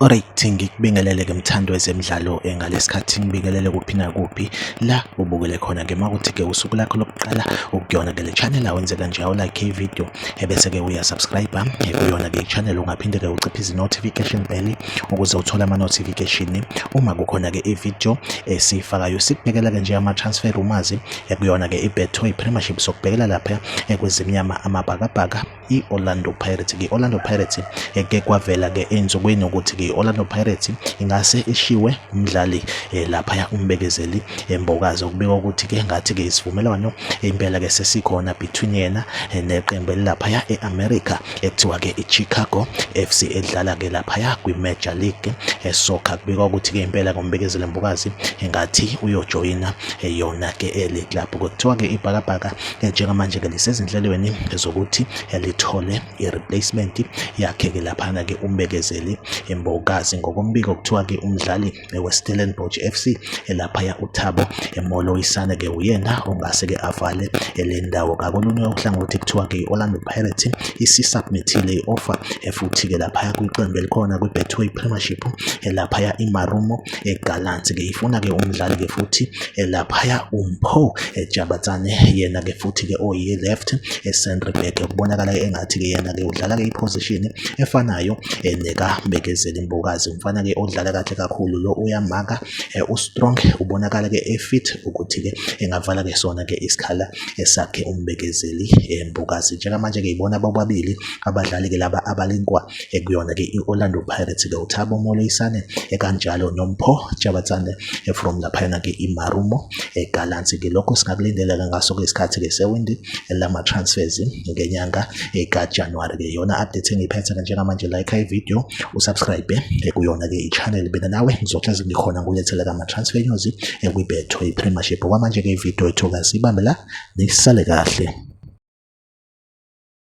Alright ngikubingelele ke mthando wezemidlalo eh, ngalesikhathi ngibingelele kuphi nakuphi la ubukele khona ke makuthi ke usuku lakho lokuqala ukuyona ke le channel awenze kanje awu like video ebese ke uya subscribe eh, kuyona ke channel ungaphinde ke uciphe izi notification bell ukuze uthole ama-notification uma kukhona-ke i-video esiyifakayo sikubhekela-ke nje ama-transfer rumazi ekuyona-ke i-betway premiership sokubhekela lapha ekwezimnyama amabhakabhaka i-orlando pirates i-orlando pirates eke kwavela-ke ey'nsukwini ukuthi i-orlando pirates ingase ishiwe umdlali eh, laphaya umbekezeli embokazi eh, okubika ukuthi-ke ngathi-ke isivumelwano impela-ke sesikhona between yena eh, neqembu elilaphaya e-america Kuthiwa-ke i-Chicago FC edlala-ke laphaya kwi-Major League esoccer eh, kubikwa ukuthi-ke impela ngombekezeli mbukazi engathi uyojoyina eh, yona-ke eh, le club kuthiwa-ke ibhakabhaka njengamanje-ke lisezinhlelweni zokuthi lithole i-replacement yakhe-ke laphana-ke umbekezeli mbukazi ngokombiko kuthiwa-ke umdlali weStellenbosch FC elaphaya uThabo Moloisane ke uyena ongase ke avale le ndawo ngakolunye uhlangothi kuthiwa ke i-Orlando Pirates isisubmithile i-offer futhi ke laphaya kwiqembu elikhona kwi-Betway Premiership elaphaya iMarumo eGallants ke ifuna ke umdlali ke futhi elaphaya uMpho Jabatsane yena ke futhi ke oyi left e-centre back kubonakala engathi ke yena ke udlala ke iposition efanayo eh, neka Mbekezeli Mbokazi mfana ke odlala kahle kakhulu lo uyamaka eh, u strong ubonakala ke e fit ukuthi ke engavala ke sona ke isikhala esakhe umbekezeli embokazi eh, njengamanje ke ibona bobabili abadlali ke laba abalinkwa eh, kuyona ke i-Orlando Pirates ke uThabo Moleisane ekanjalo noMpho Jabatsane from laphayana ke iMarumo eGallants. Ngilokho singakulindeleka ngaso ke isikhathi ke sewindi lama transfers ngenyanga ekaJanuary ke yona update engiphethe ke njengamanje like i video usubscribe kuyona ke ichannel bena nawe ngizohlezi ngikhona kulethela kama transfer news ekwibetho iPremiership kwamanje ke video ethu kasibambe la nisale kahle